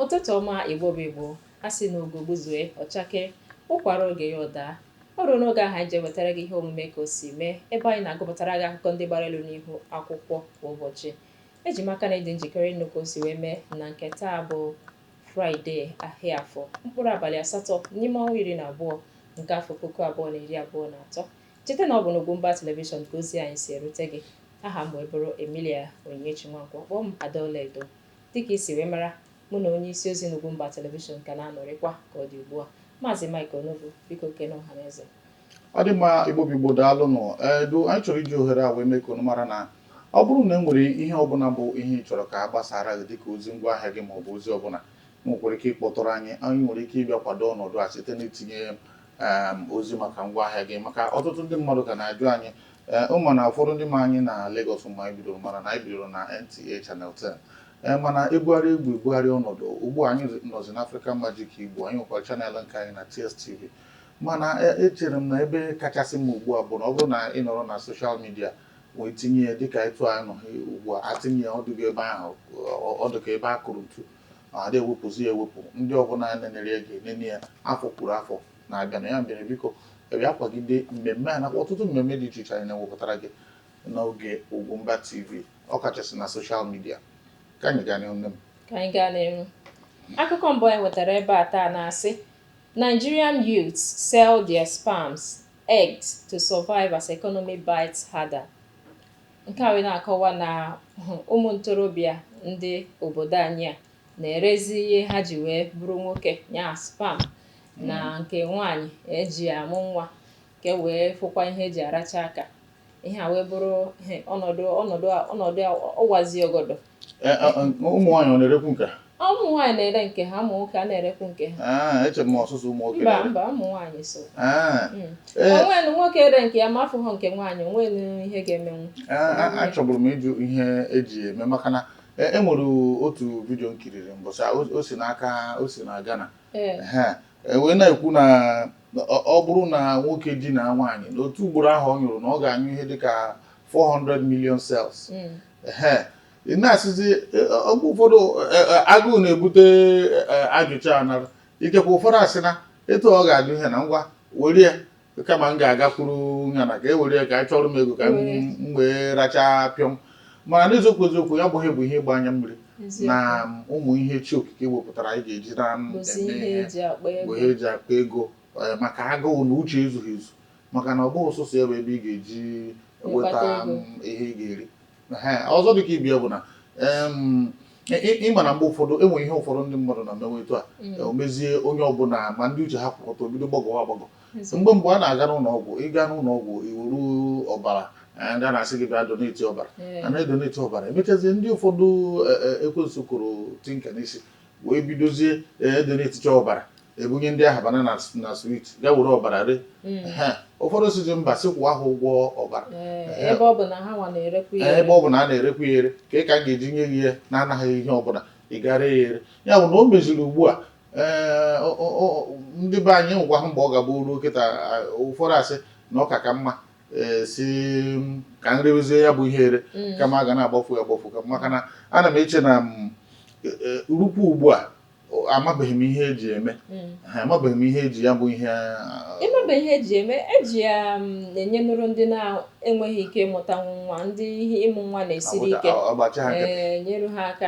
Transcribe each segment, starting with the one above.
ụtụtụ ọma igbo bụ igbo a sị na ugo gbuzue ọ chakee ụkwa ruo oge ya ọ daa o ruo n'oge ahụ anyị ji ewetara gị ihe omume ka o si mee ebe anyị na-agụpụtara gị akụkọ ndị gbara elu n'ihu akwụkwọ kwa ụbọchị eji m aka na ị dị njikere ịnụ ka o si wee mee na nke taa bụ fraịde ahịa afọ mkpụrụ abalị asatọ n'ime ọnwa iri na abụọ nke afọ puku abụọ na iri abụọ na atọ Cheta na ọ bụ n'Ugwumba Television ka ozi anyị si erute gị. Aha m wee bụrụ Emilia Onyinyechi Nwankwo, kpọọ m Ada Ọlaedo. Dịka i si wee mara, mụ na onye isi ozi n'Ugwumba Television ka na-anọrịkwa ka ọ dị ugbu a. Maazị Mike Onobu, biko kene ọhaneze. Ọ dị mma, Igbo bụ Igbo, daalụ nụ. Ee, anyị chọrọ iji ohere a wee mee ka unu mara na ọ bụrụ na e nwere ihe ọbụla bụ ihe ị chọrọ ka a gbasaara gị dịka ozi ngwaahịa gị maọbụ ozi ọbụla, i nwekwara ike ịkpọtụrụ anyị. I nwere ike ịbịa kwado ọnọdụ a site n'itinye um, ozi maka ngwa ahịa gị maka ọtụtụ ndị mmadụ ka na-ajụ anyị eh, ụmụnna ụfọdụ ndị ma anyị na Lagos mgbe anyị bidoro mara na anyị bidoro na NTA Channel 10 eh, mana e bugharị egwu e bugharị ọnọdụ ugbu a anyị nọzi na African Magic Igbo anyị nwekwara channel nke anyị na TSTV mana eh, echere m na ebe kachasị mma ugbu a bụ na ọ bụrụ na ị nọrọ na soshal midia wee tinye ya dịka etu anyị nọ ugbu a a tinye ya ọ dụgo ebe ahụ ọ dụka ebe a kụrụ ntu ma a da-ewepụzi ya ewepụ ndị ọbụla nenere ya ga-enene ya afọ kwuru afọ na-abịanụ ya mere biko bịa kwagide mmemme a nakwa ọtụtụ mmemme dị iche iche anyị na-ewepụtara gị n'oge Ugwumba TV ọ kachasị na soshal midia ka anyị gaa n'ihu nne m ka anyị gaa n'ihu akụkọ mbụ anyị nwetara ebe a taa na-asị Nigerian youths sell their sperms eggs to survive as economy bites harder Nke a wee na-akọwa na ụmụ ntorobịa ndị obodo anyị a na-erezi ihe ha ji wee bụrụ nwoke ya sperm na nke nwaanyị e ji amụ nwa ka e wee fụkwa ihe e ji aracha aka ihe a wee bụrụ ọnọdụ ọnọdụ ọnọdụ ọ wazi ọgọdọ ụmụ nwaanyị ọ na-erekwu nke Ụmụ nwaanyị na-ere nke ha, ụmụ nwoke a na-erekwu nke ha. Ah, eche m ọ sọsọ ụmụ nwoke Mba, na-ere. mba, ụmụ nwaanyị so. Ah, Mm. Ee. O nwenụ nwoke ree nke ya ma a fụghọ nke nwaanyị, o nwenụ ihe ga-emenwu. a- a- achọburu m ịjụ ihe e ji eme maka na e e nwere otu vidio m kiriri mbọsị a, o- o si n'aka o si na Ghana Ee. Ehe. E wee na-ekwu na na ọ ọ bụrụ na nwoke dinaa nwaanyị na otu ugboro ahụ ọ nyụrụ na ọ ga-anyụ ihe dịka 400 million cells Mm. Ehe. ị na-asịzi e, e, oge ụfọdụ e, agụụ na-ebute ajụjụ a nara ikekwe ụfọdụ asị na etu ọ ga-adị ihe na ngwa were ya kama m ga-agakwuru ya na ka e were ya ka a chọrọ m ego ka m wee rachaa pịọm mana n'eziokwu eziokwu ya bụghị bụ ihe ịgba anya mmiri na ụmụ ihe chi okike wepụtara anyị ga-eji na-eme ihe bụ ihe eji akpa ego maka agụụ na uche ezughị ezu maka na ọ bụghị sọsọ ya bụ ebe ị ga-eji nweta ihe ị ga-eri ọzọ dịka ibe ya bụ na ịma na mgbe ụfọdụ enwe ihe ụfọdụ ndị mmadụ na-emewe etu a mm. o mezie onye ọbụla ma ndị uche ha kwụ ọtọ ebido gbagọwa agbagọ mgbe mgbe a na-aga n'ụlọ ọgwụ ịga n'ụlọ ọgwụ iwuru ọbara ndị a na-asị gị bịa doneti ọbara a na-edoneti ọbara emechazie ndị ụfọdụ e, e, ekwensu kụrụ tinka n'isi wee bidozie edoneticha ọbara ebunye ndị ahụ banana na swit ga were ọbara ree Ehe. ụfọdụ sịzi mba sị kwụọ ha ụgwọ ọbara Ee, ebe ọ bụ na ha nwa na-erekwa ya Ee, ebe ọ bụ na a na-erekwa ya ere kee ka m ga-eji nye gị ya na-anaghị ihe ọbụla ị gaa ree ya ere ya bụ na o meziri ugbu a ee, ọ- ọ- ọ- ndị be anyị nwekwa ha mgbe ọ ga-abụ ruo kịta a, ụfọdụ asị na ọ ka ka mma e, sị ka m rewezie ya bụ ihe ere mm. kama a ga na-agbafu agbafu maka na ana m eche na mm, e, e, rukwu ugbu a amabeghị m ihe eji eme hmm. amabeghị m ihe eji ya bụ ihe ịmabe ihe eji eme eji ya um, enye nụrụ ndị na-enweghị ike ịmụta nwa ndị ihe ịmụ nwa na-esiri ike eh, nyere ha aka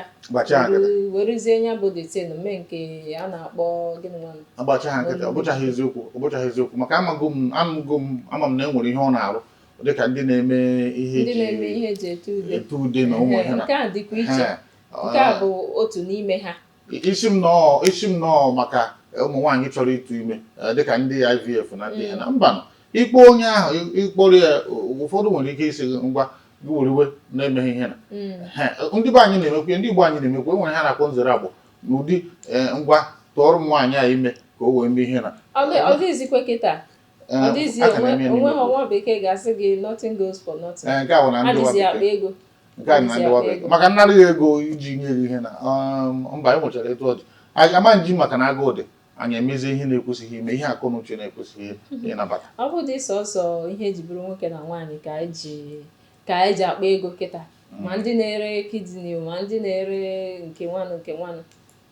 werezie nya bụ the thing mee nke a na-akpọ gịnị nwanụ agbacha ha nkịtị ọ bụchaghị eziokwu ọ bụchaghị eziokwu maka amago m amụgo m ama m na e nwere ihe ọ na-arụ dị ka ndị na-eme ihe ndị eji na-eme ihe eji ete ude ete ude na ụmụ ihe na nke a dịkwa iche Ha, ọ- nke a bụ otu n'ime ha isi m nọọ isi m nọọ maka ụmụ nwaanyị chọrọ ịtụ ime eh, dịka ndị IVF na ndị ihe na mba nọ ịkpọ onye ahụ ị- ịkpọrọ ya ụfọdụ nwere ike ịsị gị ngwa gị weriwe na-emeghị ihe na Mm. Ehe, ndị be anyị na-emekwa ya, ndị Igbo anyị na-emekwa enwere ihe a na-akpọ nzere agbọ n'ụdị ee ngwa tụọrọ m nwaanyị a ime ka o wee mee ihe na Ọ dị- ọ dịghịzikwa kịta Ee, ọ dịghịzi a ka onwe na-eme ya onwe n'ime ha obodo. nwa bekee ga-asị gị nothing goes for nothing Ee, nke a bụ na ndị adịzi ụwa akpa bekee. ego nke a na adịzi ndị ụwa akpa bekee ego. maka nnara ya ego iji nye gị ihe na um, mba anyị nwechara etu ọ dị Anyị- ama nji maka na agụụ dị anyị emezie ihe na-ekwesịghị ime ihe akọ na uche na-ekwesịghị ịnabata ọ bụdị sọsọ ihe eji bụrụ nwoke na nwaanyị ka eji ka anyị ji akpa ego kịta ma ndị na-ere kidney ma ndị na-ere nke nwanụ nke nwanụ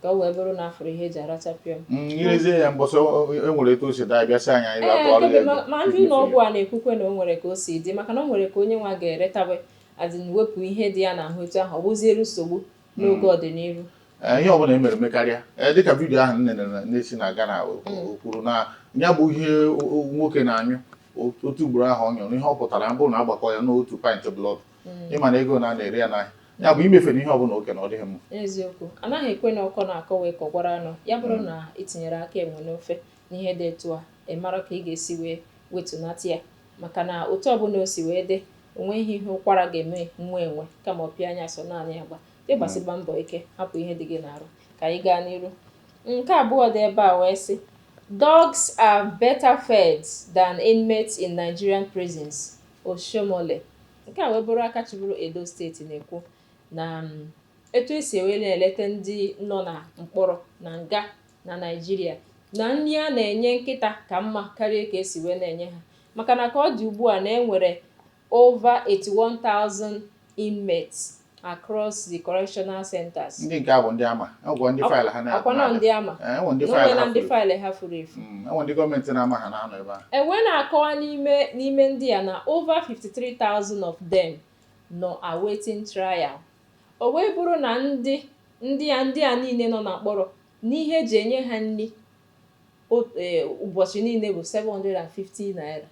ka o wee bụrụ na afụrụ ihe eji aracha pịọm Mm, irezie ya mbọsị o- o- e nwere etu o si daa bịa sị anyị anyị bịa tụọrọ ya Ee, ego ma- ma ndị ụlọ ọgwụ a na-ekwukwe na o nwere ka o si dị maka na o nwere ka onye nwa ga-eretawe the thing wepụ ihe dị ya n'ahụ etu ahụ ọ bụziere nsogbu n'oge ọdịnihu Eh, ihe ọbụla emere mekarịa eh, dịka vidiyo ahụ nne na-esi na Ghana mm. kwuru na ya bụ ihe nwoke na-anyụ otu ugboro ahụ ọ nyụrụ ihe ọ pụtara bụ na agbakọ ya n'otu pint blood mm. ịma na ego na na-ere ya n'ahịa ya bụ imefere ihe ọbụla oke na ọ dịghị mma eziokwu anaghị ekwe na ọkọ na-akọ wee kọkwara anụ ya bụrụ mm. na itinyere aka enwe n'ofe N'ihe dị etu a, ị mara ka ị ga-esi wee wetunata ya maka na otu ọbụla o si wee dị, o nweghị ihe ụkwara ga-eme nwa enwe kama ọ pịa anya sọ naanị ya gba. Gị gbasiba mbọ ike, hapụ ihe dị gị n'arụ. Ka anyị gaa n'iru. Nke abụọ dị ebe a wee sị, Dogs are better fed than inmates in Nigerian prisons, Oshiomhole. Nke a wee bụrụ aka chịburu Edo steeti na-ekwu na etu e si wee na-eleta ndị nọ na mkpọrọ, na nga, na Naịjirịa na nri a na-enye nkịta ka mma karịa ka esi wee na-enye ha maka na ka ọ dị ugbu a na e nwere over 81,000 inmates across the correctional centers. Ndị nke a bụ ndị ama ọgwọ ndị faịlụ ha na-abụ akwanọ ndị ama Eh, enwe ndị na faịlụ onwe na ha ndị furu faịlụ ha furu efu Mm, enwe ndị gọọmenti na-ama ha na-anọ ebe a e wee na-akọwa n'ime n'ime ndị a na over 53,000 of them nọ awaiting trial O wee bụrụ na ndị ndị a ndị a niile nọ na mkpọrọ, na ihe e ji enye ha nri ụbọchị niile bụ 750 naira,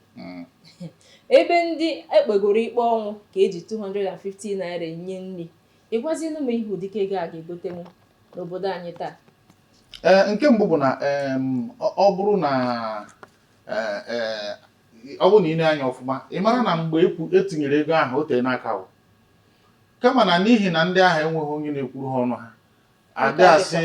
ebe ndị e kpegoro ikpe ọnwụ ka e ji 250 naira enye nri, ị gwazienụ m ihe ụdịka ego a ga-egotenwu n'obodo anyị taa? Ee, nke mbụ bụ na em, ọ ọ bụrụ na eh, eh, ọ bụrụ na ị lee anya ọfụma ị mara na mgbe ekwu- etinyere ego ahụ o teena aka ahụ kama na n'ihi na ndị ahụ enweghị onye na-ekwuru ha ọnụ ha adị asị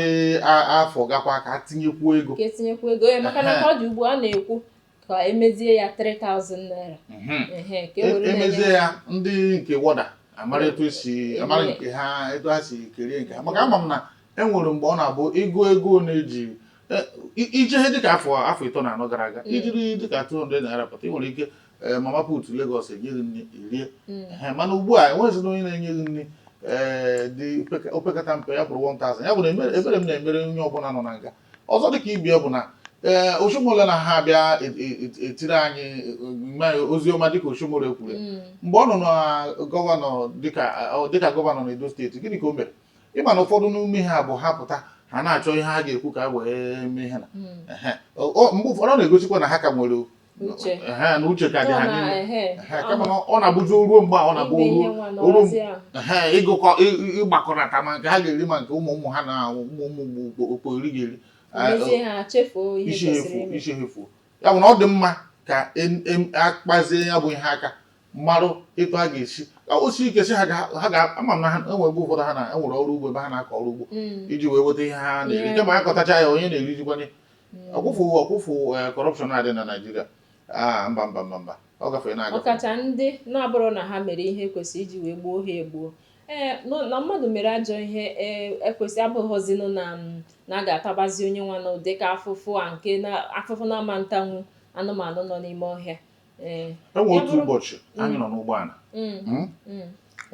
a- afọ gakwa ka etinyekwuo ego ka etinyekwu ego ya maka na ka ọ dị ugbu a na-ekwu ka emezie ya 3000 naira Mhm. ehe ka e E- were emezie na-enye ya ndị nke warder amara etu esi amara nke ha etu ha si kerie nke ha maka ama m na e nwere mgbe ọ na-abụ ego ego na-eji e- i- iji ihe dịka afọ afọ ịtọ na anọ gara aga i jiri dịka 200 naira pụta ị nwere ike ee eh, mama put Lagos enye gị nri i rie hmm. eh, mana ugbu a enweghịzina onye na-enye gị nri ee eh, dị opekata mpe ya bụrụ 1000 ya bụ na ebere m na-emere onye ọbụla nọ na nga ọzọ dị ka ibe ya bụ na ee Oshiomhole na ha bịa e, e, e, etiri anyị ozi ọma dịka Oshiomhole kwuru hmm. mgbe ọ nọ na gọvanọ dịka gọvanọ na Edo steeti gịnị ka o mere ịma na ụfọdụ n'ime ha bụ ha pụta ha na-achọ ihe ha ga-ekwu ka e wee mee ha na hmm. mgbe ụfọdụ ọ na-egosikwa na ha ka nwere n'uche ka dị ha n'ime kama ọ na-abụzi ruo mgbe ọ na-abụ ruo ịgụkọ ịgbakọnata ma nke ha ga-eri ma nke ụmụ ụmụ ha na ụmụ ụmụ okpo eri ga-eri isi efu isi efu ya bụ na ọ dị mma ka a kpazie ya bụ ihe aka marụ etu a ga-esi o si ike si ha ga-ama m na ha enwere ebe ụfọdụ ha na enwere ọrụ ugbo ebe ha na-akọ ọrụ ugbo mm. iji wee weta ihe ha na-eri kama ha kọtacha ya onye na-erizikwanụ ya ọkwụfụ ọkwụfụ corruption eh, a dị na Nigeria ah, mba mba mba mba ọ gafere na-agafe ọkacha ndị na-abụrụ na ha mere ihe kwesịrị iji wee gbuo ha egbuo ee eh, na mmadụ mere ajọ ihe ekwesị eh, e abụghịzinụ na mm, na a ga-atabazi onye nwanụ ụdị ka afụfụ a nke afụfụ na a ma ntanwu anụmanụ nọ n'ime ọhịa e nwere otu ụbọchị anyị mm. nọ n'ụgbọala mm. Hmm?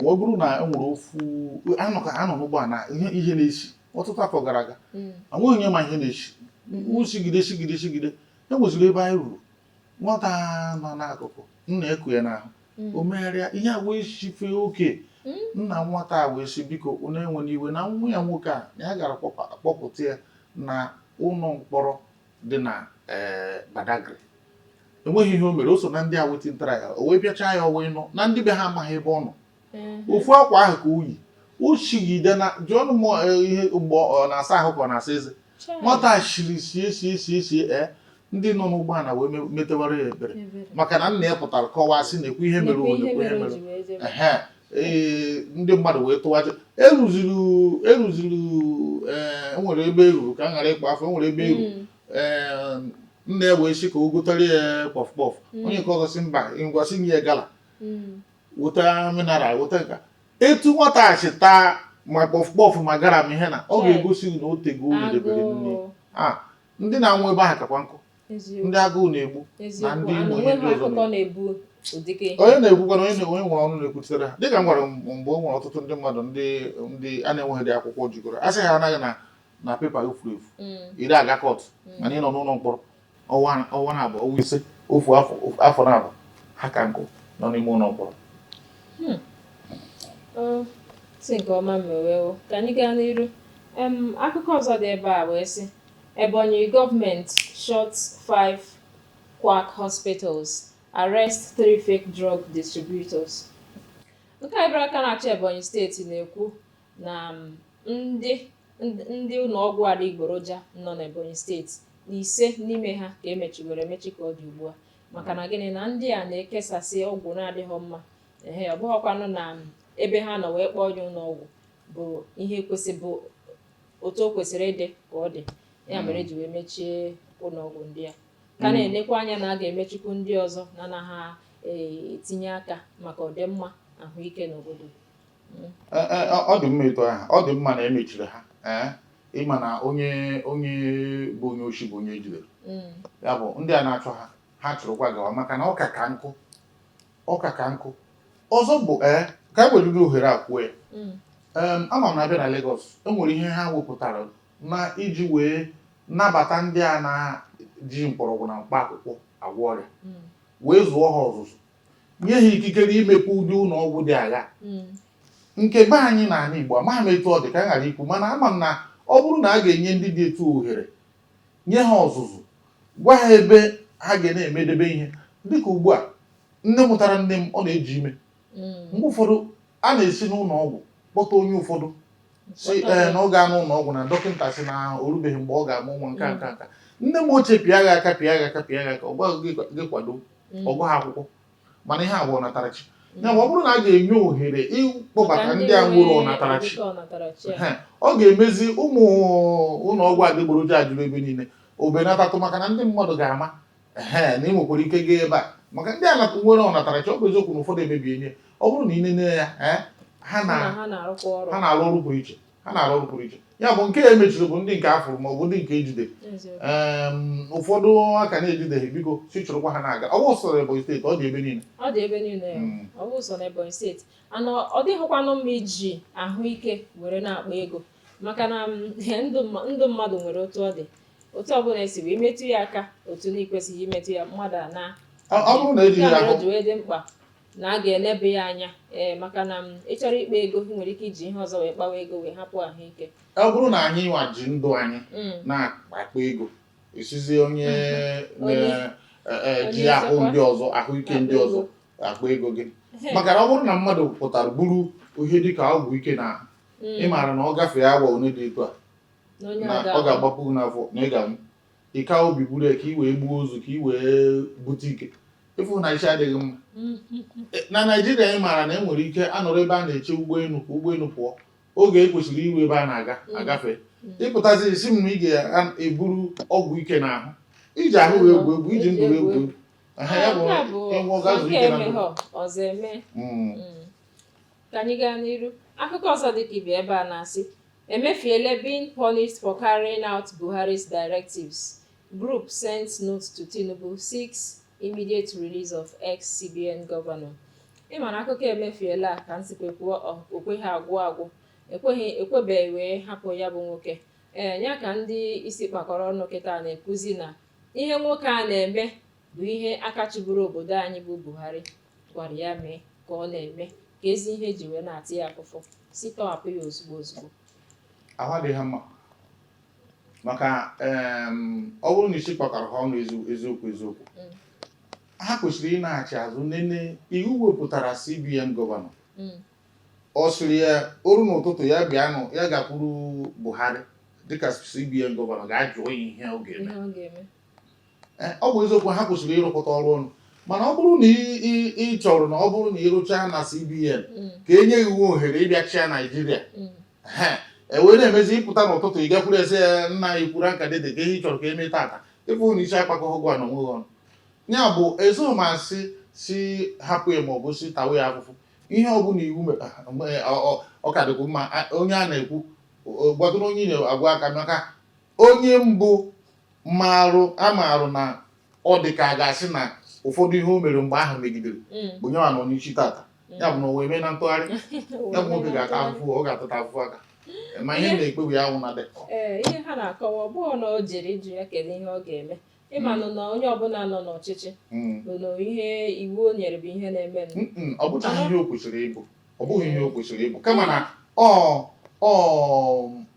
wee bụrụ na e nwere ofu a nọ n'ụgbọala ihe na-esi ọtụtụ afọ gara aga mm. enweghị onye ma ihe na-esi mm-hmm. o sigide sigide sigide e nweziri ebe anyị ruru nwata nọ n'akụkụ nna eku ya n'ahụ mm. o megharịa ihe a wee sife oke mm. nna nwata a wee sị biko unu ewena iwe na nwa ya nwoke a ya gara kpọpụta ya na ụlọ mkpọrọ dị na eh, Badagry enweghị ihe o mere o so na ndị awaiting trial o wee bịachaa ya ọnwa ịnọ na ndị be ha amaghị ebe ọ nọ ofu akwa ahụ ka o yi o shigide na jụọnụ m eh, ihe mgbe ọ na-asa ahụ ka ọ na-asa eze nwata shiri sie sie sie sie e ndị nọ n'ụgbọala wee metewara ya ebere maka na nna ya pụtara kọwaa sị na-ekwu ihe mere onye ekwu ihe mere ee ndị mmadụ wee tụwaje e ruziri e ruziri eh, e nwere ebe e ruru ka m ghara ịkpọ afa e nwere ebe e ruru hmm. eh, nna ya wee sị ka o gotara ya kpọf kpọf hmm. onye nke ọzọ sị mba ngwa sị nye ya Gala hmm. weta mineral weta nka etu nwata a si taa ma kpọf kpọf ma Gala ma ihe na ọ Chai. ga-egosi na o tego ọnụ debere nri Agụụ. a ndị na-anwụ ebe ahụ kakwa nkụ Eziokwu. ndị agụụ na-egbu na Eziokwu. ndị Ana Igbo ihe onwe ndị ha ọzọ akụkọ na-egbu ụdịka ihe. onye na-ekwukwanụ onye na- onye nwere ọnụ na-ekwuchitere ha dịka m gwara m mgbe o nwere ọtụtụ ndị mmadụ ndị ndị a na-enweghịdị akwụkwọ jikọrọ a sị ha anaghị na na paper gị furu efu Mm, ire aga court mm. mana ị nọ n'ụlọ mkpọrọ ọnwa ọnwa naabọ ọnwa ise ofu afọ ofu- afọ naabọ ha ka nkụ nọ n'ime ụlọ mkpọrọ Ọ si nke ọma mewewo ka anyị gaa n'iru Em, akụkọ ọzọ dị ebe a wee sị Ebonyi government shut five quack hospitals arrest three fake drug distributors nke a bụrụ aka na-achị Ebonyi steeti na-ekwu na ndị ndị ụlọọgwụ adịgboroja nọ n'Ebonyi steeti na ise n'ime ha ka emechiwere emechi ka ọ dị ugbu a maka na gịnị na ndị a na-ekesasị ọgwụ na-adịghị mma ee ọ bụghịkwanụ na ebe ha nọ wee kpọọ ya ụlọọgwụ bụ ihe kwesị bụ otu o kwesịrị ịdị ka ọ dị ya mere eji wee mechie ụlọọgwụ ndị a ka na-enekwa anya na a ga-emechikwu ndị ọzọ na anaghị etinye aka maka ọdịmma ahụike n'obodo ọ dị mma etu ahụ ọ dị mma na emechiri ha ee ịma na onye onye bụ onye oshi bụ onye ejidere mm. ya bụ ndị a na-achụ ha ha chụrụkwa gawa maka na ọka ka nkụ ọka ka nkụ ọzọ bụ ee ka e weriri ohere a kwuo ya mm. ama m na a bịa na Lagos enwere ihe ha wepụtara na iji wee nabata ndị a na-ji mkpọrọgwụ na mkpa akwụkwọ agwọ ọrịa mm. wee zụọ ha ọzụzụ nye ha ikikere imepe ụdị ụlọ ọgwụ dị agha hmm. nke be anyị na ala Igbo amaghị m etu ọ dị ka m ghara ikwu mana ama m na ọ bụrụ na a ga-enye ndị dị etu ohere nye ha ọzụzụ gwa ha ebe ha ga na-emedebe ihe dịka ugbu a nne mụtara nne m ọ na-eji ime hmm. mgbe ụfọdụ a na-esi n'ụlọ ọgwụ kpọta onye ụfọdụ sị ee eh, na ọ gaa n'ụlọ ọgwụ na dọkịta sị na o rubeghị mgbe ọ ga-amụ nwa nka nka nka nne m ochie pịa gị aka pịa gị aka pịa gị aka ọ gwa gị gị kwado mm. ọ gụghị akwụkwọ mana ihe a bụ ọnatarachi mm. ya ma ọ bụrụ na a ga-enye ohere ịkpọbata ndị a nwere ọnatarachi ọ ga-emezi ụmụ ụlọ ọgwụ adịgboroja a juru ebe niile o benatatụ maka na ndị mmadụ ga-ama ee na ị nwekwara ike gaa ebe a maka ndị a nwere ọnatarachi ọ bụ eziokwu na ụfọdụ emebiene ya ọ bụrụ na ị nene ya ha na-arụ ọrụ pụrụ iche ha na-arụ ọrụ pụrụ iche ya bụ nke e mechiri bụ ndị nke afụrụ ma ọ bụ ndị nke ejide ụfọdụ aka na-ejideghị biko si chụrụkwa ha na-aga ọ bụ sọ na Ebonyi steeti ọ dị ebe niile ọ dị ebe niile hmm. ọ bụ sọ na Ebonyi steeti and ọ dịghịkwanụ mma iji ahụike were na-akpa ego maka na ndụ mmadụ nwere otu ọ dị otu ọbụla esi wee metụ ya aka otu na-ekwesịghị imetụ ya mmadụ anaa ọ bụrụ na ejighị ahụ dị mkpa na a ga-eleba ya anya ee maka na ị chọrọ ikpa ego ị nwere ike iji ihe ọzọ wee kpawa ego wee hapụ ahụike ọ bụrụ na anyị nwa ji ndụ anyị Mm. na-akpa ego ị sịzi onye ji ahụ ndị ọzọ ahụike ndị ọzọ akpa ego gịnị maka na ọ bụrụ na mmadụ pụtara buru ihe dịka ọgwụ ike n'ahụ Mm. ị maara na ọ gafee awa one dị etu a na ọ ga-agbapụ gị n'afọ na ị ga-anwụ ị kaa obi buru ya ka i wee gbuo ozu ka i wee bute ike ịfụ na isi adịghị mma na naijiria anyị maara na e nwere ike anọrọ ebe a na-eche ụgbọelu ka ụgbọelu pụọ oge e kwesịrị iru ebe a na-aga mm. agafe mm. ị pụtazi sị m na ị ga-eburu ọgwụ ike n'ahụ iji ahụ wee egwu egwu iji ndụ wee egwu egwu ọzọ eme Ka anyị gaa n'iru, akụkọ ọzọ dị ka ibe ebe a na-asị Emefiele being punished for carrying out Buhari's directives, group sends note to Tinubu seeks immediate release of ex-CBN governor. Ị ma na akụkọ Emefiele a ka nsikwa kwuo o kweghị agwụ agwụ ekweghị ekwebeghị wee hapụ ya bụ nwoke ee ya ka ndị isi kpakọrọ ọnụ kịta na-ekwuzi na ihe nwoke a na-eme bụ ihe aka chịburu obodo anyị bụ Buhari gwara ya mee ka ọ na-eme keezi ihe e ji wee na-ata ya afụfụ sị tọhapụ ya ozugbo ozugbo ahụ adịghị ha mma maka em, ọ bụrụ na isi kpakọrọ ha ọnụ ezi- eziokwu eziokwu Mm. ha kwesịrị ịnaghachi azụ nene iwu wepụtara CBN gọvanọ Mm, ọ sịrị ya o ruo n'ụtụtụ ya bịa nụ ya gakwuru Buhari dịka CBN gọvanọ gaa jụọ ya ihe ọ ga-eme ihe ọ ga-eme e, ọ bụ eziokwu ha kwesịrị ịrụkọta ọrụ ọnụ mana ọ bụrụ na ị chọrọ na ọ bụrụ na ị rụchaa na CBN mm. ka e nye gị ohere ịbịa chịa Naijiria mm. e wee na-emezi ị pụta n'ụtụtụ ị gakwuru sị ya nna anyị kwuru aka dede kee ihe ị chọrọ ka e mee tata ị fụ na isi akpakọghị gị wa na onwe gị ọnụ ya bụ ezomasị si hapụ ya maọbụ sị tawa ya afụfụ ihe ọ bụla iwu ọ ka dịkwu mma onye a na-ekwu gbadoro onye na-agwa aka maka Onye mbụ maarụ amaarụ na ọ dị ka a ga-asị na ụfọdụ ihe o mere mgbe ahụ megidere mm. bụ onye nwa nọ n'isi tata mm. ya bụ na o wee mee na ntụgharị ya bụ nwoke ga-ata afụfụ ọ ga-atata afụfụ a kama ihe na-ekpebi ya nwụ na dị ihe ha na-akọwa ọ bụghị na o jere ịjụ ya kedu ihe ọ ga-eme ị manụ na onye ọbụla nọ n'ọchịchị mm. bụ na ihe iwu o nyere bụ ihe a na-eme ọ bụghị ihe o kwesịrị ịbụ ọ bụghị ihe o kwesịrị ịbụ kama na ọ ọ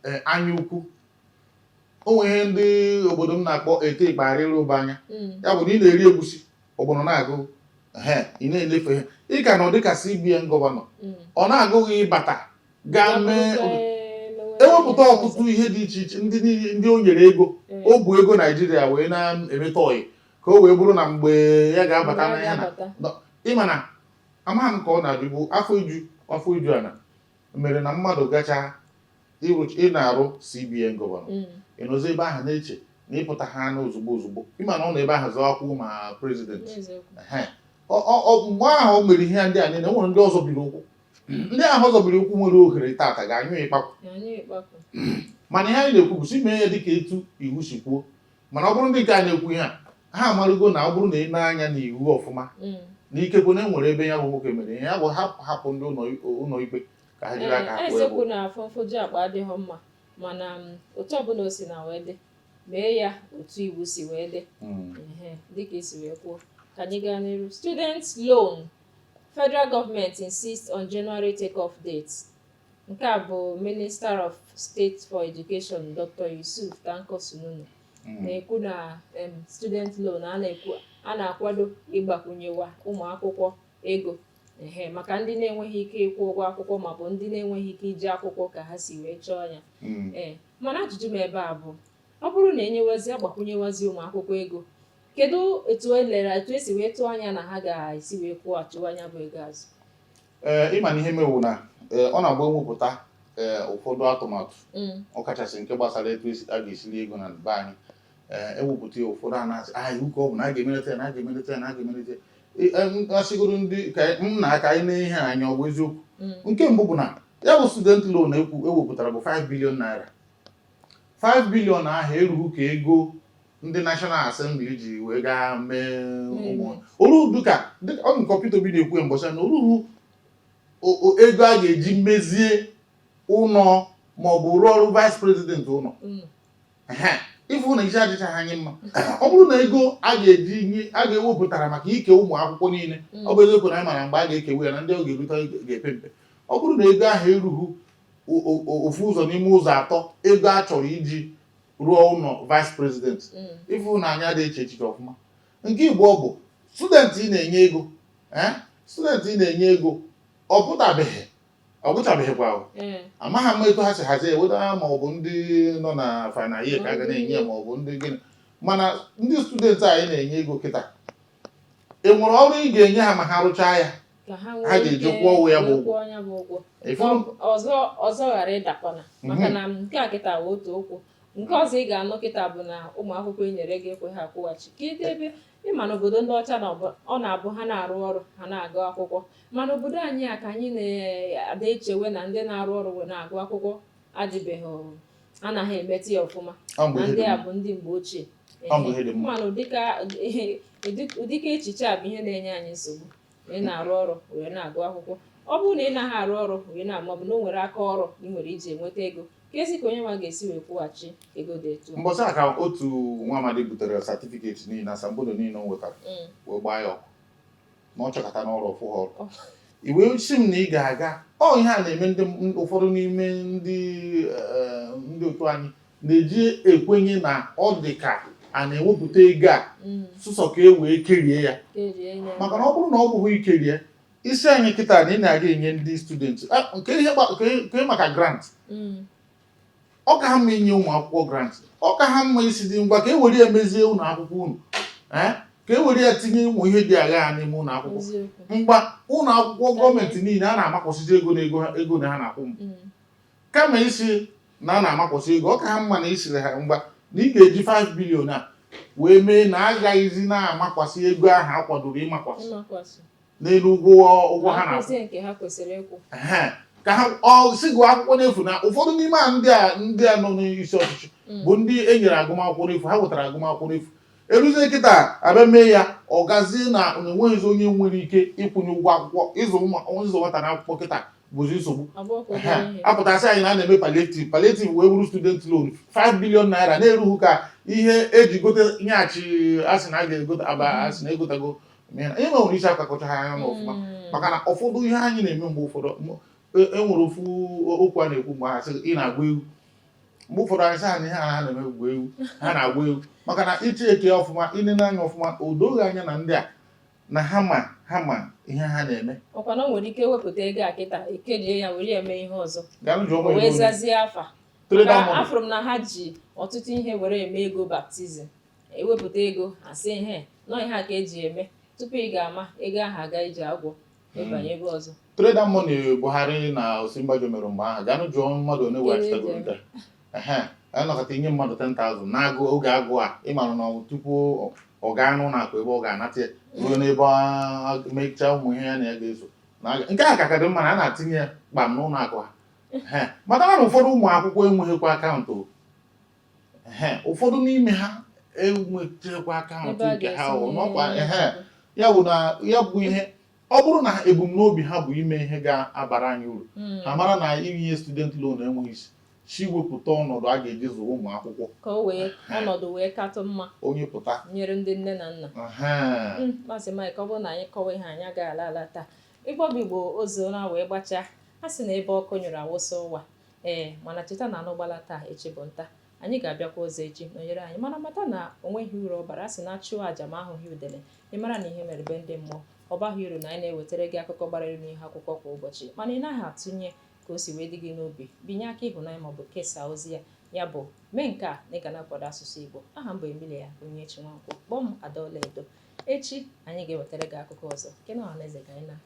e, anya ukwu o nwere ihe ndị obodo m na-akpọ ete ikpe arịrị ụba anya mm. ya bụ na ị na-eri egusi ọgbọnọ na-agụ ị na-elefe ihe ị ka nọ dịka CBN gọvanọ mm. ọ na-agụ gị ịbata ga mee ewepụta ọtụtụ ihe dị iche iche ndị niile ndị o nyere ego o bu ego naijiria wee na-emeta ọyị ka o wee bụrụ na mgbe ya ga-abata na ya na nọ- ị ma na amaghị m ka ọ na-adịbu afọ iju afọ iju ana mere na mmadụ gacha ịrụ- ị na-arụ cbn gọvanọ Mm. ị nọzi ebe ahụ na-eche na ịpụta ha na ozugbo ozugbo ị ma na ọ nọ ebe ahụ zụọ akwụkwọ ma prezidenti N'eziokwu. Ehe. Ọ- ọ- ọ- mgbe ahụ o mere ihe ndị a niile o nwere ndị ọ zọbiri ụkwụ ndị ahụ ọ zọbiri ụkwụ nwere ohere tata ga-anyụ ikpakwụ mana ihe anyị na-ekwu bụ sị mee ya dịka etu iwu si kwuo mana ọ bụrụ ndị nke a na-ekwu ihe a ha amarugo na ọ bụrụ na e nee anya na iwu ọfụma mm. na ikekwe na e nwere ebe ya bụ nwoke mere ihe ya bụ ha hapụ ndị ụlọ ikpe ka ha jiri aka eh, eziokwu na afọ mfoju akpa adịghị mma mana mm, otu ọbụla o si na wee dị mee ya otu iwu si wee dị mm. dịka i si wee kwuo ka anyị gaa n'iru student loan Federal government insists on January take-off date. Nke a bụ Minister of State for Education Dr. Yusuf Tanko Sununu hmm. na-ekwu na student loan a na-akwado ịgbakwunyewa ụmụ akwụkwọ ego ehe maka ndị na-enweghị ike ịkwụ ụgwọ akwụkwọ maọbụ ndị na-enweghị ike ije akwụkwọ ka ha si wee chọọ ya hmm. ee mana ajụjụ m ebe a bụ Ọ bụrụ na enyewazi agbakwunyewazi ụmụ akwụkwọ ego, kedu etu elere etu esi wee tụọ anya na ha ga-esi wee kwụghachiwa nya bụ ego azụ? Ee, ịma na ihe mewu na ee, ọ na-abụ ewepụta ee, ụfọdụ atụmatụ Mm. ọkachasị nke gbasara etu esi a ga-esi eri ego na be anyị ee, ewepụta ya ụfọdụ a na-asị a iwu ka ọ bụ na a ga-emelite ya na a ga-emelite ya na a ga-emelite ya E- em, asịgoro ndị ka anyị- nna aka anyị na ihe anya ọ bụ eziokwu Mm. nke mbụ bụ na ya bụ student loan ego ewepụtara bụ 5 billion naira 5 billion ahụ erughị ka ego ndị National Assembly ji wee gaa mee ụmụ oru dịka dịka- ọ dị ka Peter Obi na-ekwu ya mbọchị na o rughị o- o- ego a ga-eji mezie ụlọ ma ọ bụ rụọrọ vice president ụlọ Mm. Ehe, ị fụ na isi adịchaghị anyị mma ọ bụrụ na ego a ga-eji nye- a ga-ewepụtara maka ike ụmụ akwụkwọ niile Mm. ọ bụ eziokwu na anyị mara mgbe a ga-ekewe ya na ndị ọ ga-erute ga-epe mpe ọ bụrụ na ego ahụ erughị ofu ụzọ n'ime ụzọ atọ ego a chọrọ iji rụọ ụlọ vice president ị fụ na anyị adịghị eche echiche ọfụma nke ịbụọ bụ student ị na-enye ego eh? student ị na-enye ego ọ pụtabeghị ọ gụchabeghịkwa hmm. amaghị m etu ha si hazie eweta ya ma ọ bụ ndị nọ na final year ka a ga na-enye ya ma ọ bụ ndị gịnị mana ndị student anyị na-enye ego kịta i nwere ọrụ ị ga-enye ha ma ha rụchaa ya ha ga-eji kwụọ ụgwọ ya bụ ụgwọ ọzọ ghara ịdakwana mhm. maka na nke a kịta bụ otu okwu nke ọzọ ị ga-anụ kịta bụ na ụmụ akwụkwọ e nyere ego ekweghị akwụghachi kedu ebe ịma na obodo ndị ọcha na ọ na-abụ ha na-arụ ọrụ ha na-agụ akwụkwọ mana obodo anyị a ka anyị na-ada echewe na ndị na-arụ ọrụ wee na-agụ akwụkwọ adịbeghị anaghị emete ya ọfụma na ndị a bụ ndị mgbe ochie mana ụdịka echiche a bụ ihe na-enye anyị nsogbu ị na-arụ ọrụ wee na-agụ akwụkwọ ọ bụrụ na ị naghị arụ ọrụ wee na- maọbụ na o nwere aka ọrụ ị nwere i ji enweta ego kezi ka onye nwa ga-esi wee kwụghachi ego dị etu mbọchị a ka otu nwa amadi butere satifiketi niile asambodo niile o nwetara mm. wee gbaa ya ọkụ na ọ chọkatana ọrụ ọ fụghị ọrụ oh. i wee sị m na ị ga-aga ọ ihe a na-eme ndị ụfọdụ n'ime ndị eh, ndị otu anyị na-eji ekwenye na ọ dị ka a na-ewepụta ego a mm. sụsọ ka e wee kerie ya maka na ọ bụrụ na ọ bụghị ikerie ị sị anyị kịta na ị na-aga enye ndị studenti ah, nke ihe maka grant mm. ọ ka ha mma inye ụmụ akwụkwọ grant ọ ka ha mma ịsị dị ngwa ka e were ya mezie ụlọ akwụkwọ unu eh? ka e were ya tinye ụmụ ihe dị aghaa n'ime ụlọ akwụkwọ ngwa ụlọ akwụkwọ gọọmenti niile a na-amakwasịzi ego na ego ego na ha na-akwụ mm. kama ịsị na a na-amakwasị ego ọ ka ha mma na ị sịrị ha ngwa na ị ga-eji 5 billion a wee mee na agaghịzi na-amakwasị ego ahụ a kwadoro ịmakwasị n'elu ụgwọ ụgwọ ha na ka ha si gụọ akwụkwọ n'efu na ụfọdụ n'ime a ndị a ndị a nọ n'isi ọchịchị mm. bụ ndị e nyere agụmakwụkwọ n'efu ha nwetara agụmakwụkwọ n'efu eruzie kịta a bịa mee ya ọ gazie na enweghịzi onye nwere ike ịkwụnye ụgwọ akwụkwọ ịzụ nwata n'akwụkwọ kịta bụzi nsogbu a pụta sị anyị na a na-eme palliative palliative wee bụrụ student loan 5 billion naira na erughị ka ihe e ji gote yacht a sị na a ga-egote a bịa sị na egotago ihe nwere isi akakọcha ha anya n'ọfụma hmm. maka na ụfọdụ ihe anyị na-eme mgbe ụfọdụ enwere e ofu okwu a na-ekwu mgbe ha sị ị na-agba egwu mgbe ụfọdụ anyị sị anyị ha ha na-eme egwu egwu ha na-agba egwu maka na ị chekie ọfụma ị nenee anya ọfụma o doghị anya na ndị a na ha ma ha ma ihe ha na-eme ọkwa na nwere ike wepụta ego a kịta e kejie ya were eme ihe ọzọ wee zazie afa afụrụ m na ha ji ọtụtụ ihe were eme ego baptism e wepụta ego a sị na ọ ihe a ka e ji eme tupu ị ga-ama ego ahụ agaa ije agwọ banye ebe ọzọ Trader money Buhari na Osinbajo mere mgbe ahụ gaanụ jụọ mmadụ one weghachitagoro nke ehe a nọkata inye mmadụ 10,000 n'agụụ oge agụụ a ị mara na ọ- tupu ọ- ọ gaa n'ụlọ akụ ebe ọ ga-anata ya ruo n'ebe a mechaa ụmụ ihe ya na ya ga-eso Na aga- nke a ka ka dị mma na a na-atinye ya kpam n'ụlọ akụ ha Ehe. mata na ụfọdụ ụmụ akwụkwọ enweghịkwa akaụntụ ụfọdụ n'ime ha enwechekwa akaụntụ nke ha ya bụ na ya bụ ihe ọ bụrụ na ebumnobi ha bụ ime ihe ga-abara anyị uru hmm. ha mara na inye student loan enweghị isi si wepụta ọnọdụ a ga-eji zụrụ ụmụ akwụkwọ ka o wee ọnọdụ wee katụ mma onye pụta nyere ndị nne na nna hmm, maazị Mike ọ bụrụ na anyị kọwa ihe anyị agaghị ala ala taa ịgbọbụ igbo ozu na wee gbachaa a sị na ebe ọkụ nyụrụ a wụsa ọwa Ee, mana cheta na anụ gbalaa taa echi bụ nta. Anyị ga-abịakwa ọzọ echi nọnyere anyị mana mata na o nweghị uru ọ bara a sị na a chụọ aja ma a hụghị udele ị mara na ihe mere be ndị mmụọ ọ baghị uru na anyị na-ewetara gị akụkọ gbara elu n'ihu akwụkwọ kwa ụbọchị mana ị naghị atụnye ka o si wee dị gị n'obi binye aka ịhụnanya maọbụ kesaa ozi ya ya bụ mee nke a na ị ga na-akwado asụsụ Igbo aha m bụ Emilia Onyinyechi Nwankwo kpọọ m Adaọlaedo echi anyị ga-ewetara gị akụkọ ọzọ nke na ọhaneze ka anyị na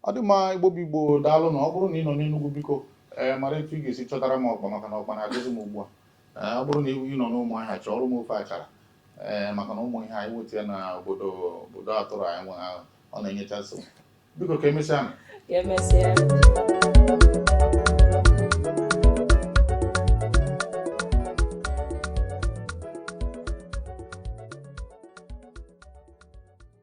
ọ dị mma igbo bụ igbo daalụ nụ ọ bụrụ na ị nọ n'enugwu biko ee mara etu ị ga-esi chọtara m ọkpa maka na ọkpa na-agụzi m ugbu a ọ bụrụ na ị nọ n'ụmụahịa chọọrọ m ofe achara ee maka na ụmụ ihe a inweta ya na obodo obodo atụrụ anyị nwe ahụ ọ na-enyecha nsogbu biko ka emesịa ka emesịa